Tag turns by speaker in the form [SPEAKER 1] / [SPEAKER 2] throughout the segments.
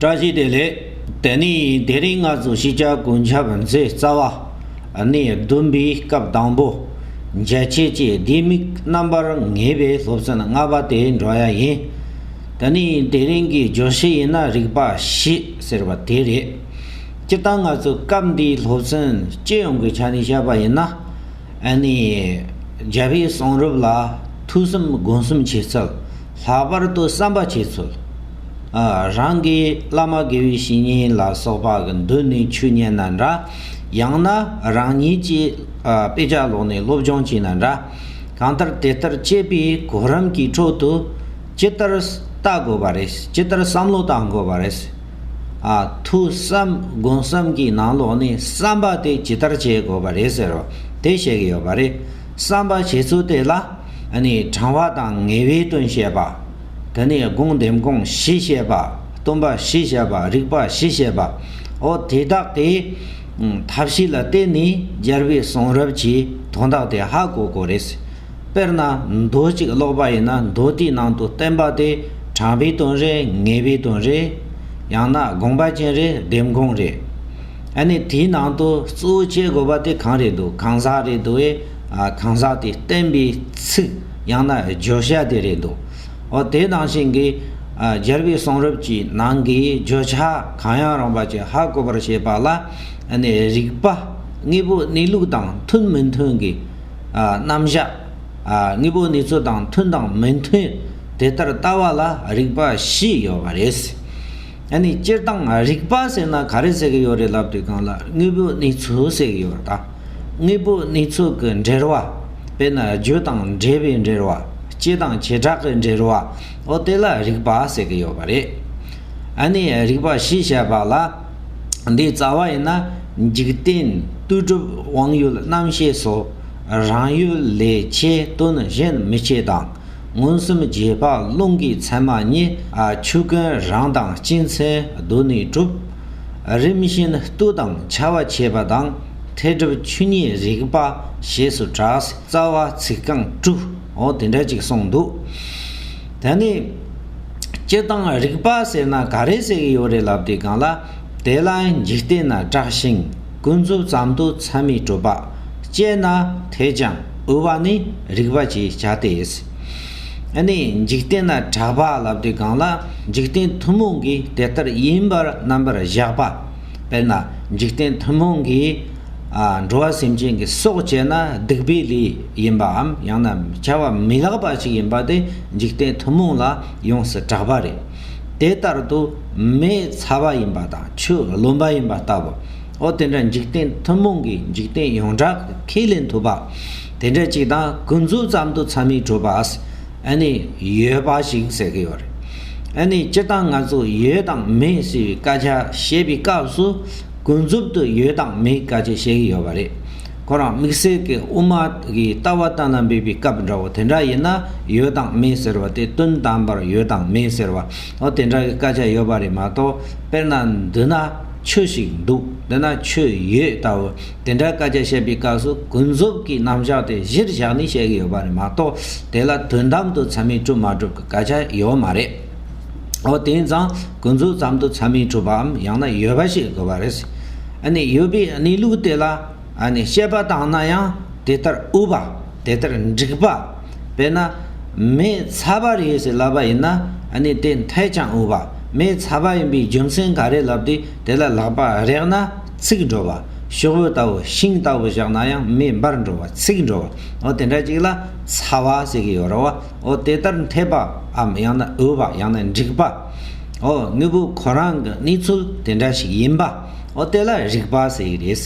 [SPEAKER 1] བཀྲ་ཤིས་བདེ་ལེགས། དེ་ནི་དེ་རིང་ང་ཚོ་གཞིས་ཆགས་དགུན་ཆབ་མཚེས་རྩ་བ། ནས་བདུན་པའི་སྐབས་དང་པོ། མཇལ་ཕྱེད་ཅེས་ལྡེ་མིག་རྣམ་པར་ངེས་པའི་སློབ་ཚན་ལྔ་པ་དེ་འགྲོ་ཡ་ཡིན། དེ་ནི་དེ་རིང་གི་བརྗོད་གཞི་ཡིན་ན་རིག་པ་བཞི་ཟེར་བ་དེ་རེད། སྤྱིར་བཏང་ང་ཚོས་སྐབས་འདིའི་སློབ་ཚན་སྤྱི་ཡོངས་ཀྱི་ཆ་ནས་བཤད་པ་ཡིན་ན། ནི། རྒྱལ་བའི་གསུང་རབ་ལ་ཐུགས་བསམ་དགོངས་གསུམ་བྱེད་ཚུལ། ལྷག་པར་དུ་བསམ་པ་བྱེད་ཚུལ། རང་གི་བླ་མ་དགེ་བའི་བཤེས་གཉེན་ལ་སོགས་པ་གི་མདུན་ནས་ཆོས་མཉན་ན་འདྲ། ཡང་ན་རང་ཉིད་ཀྱིས་དཔེ་ཆ་ཀློག་ནས་སློབ་སྦྱོང་བྱས་ན་འདྲ། གང་ལྟར་དེ་ལྟར་སྤྱད་པའི་གོ་རིམ་གྱི་ཁྲོད་དུ་ཇི་ལྟར་བལྟ་དགོས་པ་རེད། ཇི་ལྟར་བསམ་བློ་བཏང་དགོས་པ་རེད། ཐུགས་བསམ་དགོངས་བསམ་གྱི་ནང་ལོགས་ནས་བསམ་པ་དེ་ཇི་ལྟར་བྱེད་དགོས་པ་རེད་ཟེར་བ་དེ་བཤད་ཀྱི་ཡོད་པ་རེད། བསམ་པ་བྱེད་ཚུལ་དེ་ལ་དྲང་བ་དང་ངེས་པའི་དོན་བཤད་པ། དེ་ནས་དགོངས་ལྡེམ་དགོངས་གཞི་བཤད་པ། སྟོན་པ་གཞི་བཤད་པ་རིགས་པ་གཞི་བཤད་པ། འོ་དེ་དག་གི་ཐབས་ཤེས་ལ་བརྟེན་ནས་སྦྱར་བའི་གསུང་རབ་ཀྱི་དོན་དག་དེ་ཧ་གོ་གོ་རེད། དཔེར་ན་མདོ་གཅིག་ཀློག་པ་ཡིན་ན་མདོ་དེའི་ནང་དུ་བསྟན་པ་དེ་དྲང་བའི་དོན་རེད་ངེས་པའི་དོན་རེད། ཡང་ན་དགོངས་པ་ཅན་རེད་ལྡེམ་དགོངས་རེད། ཨ་ནི་དེའི་ནང་དུ་གཙོ་བོ་བྱེད་དགོས་པ་དེ་གང་རེད་འདུག་གང་ཟག་རེད་འདུག་ཨེ། གང་ཟག་དེ་བསྟན་པའི་ཚིག་ཡང་ན་བརྗོད་བྱ་དེ་རེད་འདུག་ཨོ། དེ་ནང་བཞིན་གྱི་སྦྱར་བའི་གསུང་རབ་ཀྱི་ནང་གི་བརྗོད་བྱ་གང་ཡང་རུང་བ་ཅི་ཧ་གོ་བར་བྱེད་པ་ལ་ཨ་ནི་རིགས་པ་དངོས་པོ་གནས་ལུགས་དང་མཐུན་མི་མཐུན་གྱི་རྣམ་གཞག་དངོས་པོ་གནས་ཚུལ་དང་མཐུན་དང་མི་མཐུན་དེ་ལྟར་ལྟ་བ་ལ་རིགས་པ་བཞི་ཡོད་པ་རེད། ཨ་ནི་སྤྱིར་བཏང་རིག་པ་ཟེར་ན་ག་རེ་ཟེར་གྱི་ཡོད་རེད་ལབ་དུས་གང་ལ་དངོས་པོའི་གནས་ཚུལ་ཟེར་གྱི་ཡོད་ད། དངོས་པོའི་གནས་ཚུལ་གྱི་འབྲེལ་བ། དཔེར་ན་རྒྱུ་དང་འབྲས་བུའི་འབྲེལ་བ། སྤྱི་དང་བྱེ་བྲག་གི་འབྲེལ་བ། ཨོ་དེ་ལ་རིག་པ་ཟེར་གྱི་ཡོད་པ་རེད། ཨ་ནི་རིག་པ་ཞེས་བྱ་བ་ལ། འདིའི་རྩ་བ་ཡིན་ན་འཇིག་རྟེན་ལྟོས་གྲུབ་དབང་ཡུལ་རྣམ་ཤེས་སོ། རང་ཡུལ་ལས་ཆེས་དོན་གཞན་མི་སྐྱེ་དང། མངོན་སུམ་རྗེས་དཔག་རླུང་གི་མཚན་མ་གཉིས། ཆུ་ཀུན་རང་དང་སྤྱི་མཚན་རྡུལ་ནི་གྲུབ། རིམ་བཞིན་བཏུ་དང་བྱ་བ་བྱེད་པ་དང། ཐལ་གྲུབ་ཆུ་གཉིས་རིག་པ་ཞེས་སུ་གྲགས། རྩ་བ་ཚིག་རྐང་དྲུག་འོ་དེ་འདྲ་ཅིག་གསུངས་འདུག། ད་ནི། སྤྱི་དང་རིག་པ་ཟེར་ན་ག་རེ་ཟེར་གྱི་ཡོད་རེད་ལབ་དུས་གང་ལ། དེ་ལ་འཇིག་རྟེན་ན་གྲགས་ཤིང་ཀུན་རྫོབ་ཙམ་དུ་མཚན་མི་གྲུབ་པ། དཔྱད་ན་ཐལ་ཀྱང། དབུལ་བ་ནི་རིགས་པ་ཅེས་བྱ་སྟེ། ནི་འཇིག་རྟེན་ན་གྲགས་པ་ལབ་སྟེ་གང་ལ་འཇིག་རྟེན་ཐུན་མོང་གིས་དེ་ལྟར་ཡིན་པར་རྣམ་པར་གཞག་པ། དཔེར་ན་འཇིག་རྟེན་ཐུན་མོང་གིས་འགྲོ་བ་སེམས་ཅན་གྱི་སྲོག་བཅད་ན་སྡིག་པའི་ལས་ཡིན་པའམ་ཡང་ན་བྱ་བ་མི་ལགས་པ་ཞིག་ཡིན་པ་དེ་འཇིག་རྟེན་ཐུན་མོང་ལ་ཡོངས་སུ་གྲགས་པ་རེད། དེ་ལྟར་དུ་མེའི་ཚ་བ་ཡིན་པ་དང་ཆུའི་རློན་པ་ཡིན་པ་ལྟ་བུ། འོ་དེ་འདྲ་འཇིག་རྟེན་ཐུན་མོང་གི་འཇིག་རྟེན་ཡོངས་གྲགས་ཀྱི་ཁས་ལེན་ཐུབ་པ་དེ་འདྲ་ཅིག་དང་ཀུན་རྫོབ་ཙམ་དུ་ཚ་མི་གྲུབ་པ་ཨ་ནི་ཡོད་པ་ཞིག་ཟེར་གི་ཡོད་རེད། ཨ་ནི་སྤྱིར་བཏང་ང་ཚོ་ཡོད་དང་མེད་ཟེར་བའི་སྐད་ཆ་བཤད་པའི་སྐབས་སུ་ཀུན་རྫོབ་ཏུ་ཡོད་དང་མེད་སྐད་ཆ་བཤད་གི་ཡོད་པ་རེད། ཁོ་རང་དམིགས་བསལ་གྱི་དབུ་མ་གི་ལྟ་བ་བསྟན་ལ་འབེབས་པའི་སྐབས་འདྲ་བོ་དེ་འདྲ་ཡིན་ན་ཡོད་དང་མེད་ཟེར་བ་དེ་དོན་དམ་པར་ཡོད་དང་མེད་ཟེར་བའོ་དེ་འདྲ་གི་སྐད་ཆ་ཡོད་པ་རེད་མ་གཏོགས་དཔེར་ན་མདུན་ན། ཆོས་ཤིག་འདུག་འདི་ན་ཆོས་ཡོད་ལྟ་བུ། དེ་འདྲའི་སྐད་ཆ་བཤད་པའི་སྐབས་སུ་ཀུན་རྫོབ་ཀྱི་རྣམ་གཞག་དེ་གཞིར་བཞག་ནས་བཤད་ཀྱི་ཡོད་པ་རེད་མ་གཏོགས་དེ་ལ་དོན་དམ་དུ་ཚད་མས་གྲུབ་མ་གྲུབ་ཀྱི་སྐད་ཆ་ཡོད་མ་རེད། འོ་དེང་སང་ཀུན་རྫོབ་ཙམ་དུ་ཚད་མས་གྲུབ་པའམ་ཡང་ན་ཡོད་པ་ཞིག་དགོས་པ་རེད། ཨ་ནི་ཡོད་པའི་གནས་ལུགས་དེ་ལ་ཨ་ནི་དཔྱད་པ་བཏང་ན་ཡང་དེ་ལྟར་དབུལ་བ་དེ་ལྟར་འགྲིག་པ། དཔེར་ན། མེ་ཚ་བ་རེད་ཟེར་ལབ་པ་ཡིན་ན་ནི་དེ་འཐད་ཀྱང་འོས་པ། མེ་ཚ་བ་ཡིན་པའི་རྒྱུ་མཚན་ག་རེ་ལབ་སྟེ་དེ་ལ་ལག་པ་རེག་ན་ཚིག་འགྲོ་བ། ཤོག་བུ་ལྟ་བུ་ཤིང་ལྟ་བུ་བཞག་ན་ཡང་མེ་འབར་འགྲོ་བ་ཚིག་འགྲོ་བ། འོ་དེ་འདྲ་ཅིག་ལ་ཚ་བ་ཟེར་གྱི་ཡོད་རོ། འོ་དེ་ལྟར་འཐད་པའམ་ཡང་ན་འོས་པ་ཡང་ན་འགྲིག་པ། འོ་དངོས་པོ་ཁོ་རང་གི་གནས་ཚུལ་དེ་འདྲ་ཞིག་ཡིན་པ། འོ་དེ་ལ་རིག་པ་ཟེར་གྱི་རེད།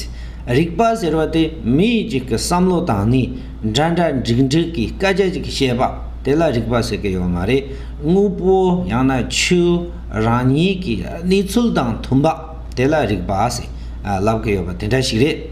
[SPEAKER 1] རིག་པ་ཟེར་བ་དེ་མི་ཡིག་ཅིག་གི་བསམ་བློ་དང་ནི། འདྲ་འདྲ་འགྲིག་འགྲིག་གི་སྐད་ཆ་ཅིག་བཤད་པ་དེ་ལ་རིག་པ་ཟེར་གི་ཡོད་མ་རེད། དངོས་པོ་ཡང་ན་ཆོས་རང་ཉིད་ཀྱི་གནས་ཚུལ་དང་མཐུན་པ་དེ་ལ་རིག་པ་ཟེར་ལབ་གི་ཡོད་པ་དེ་འདྲ་ཞིག་རེད།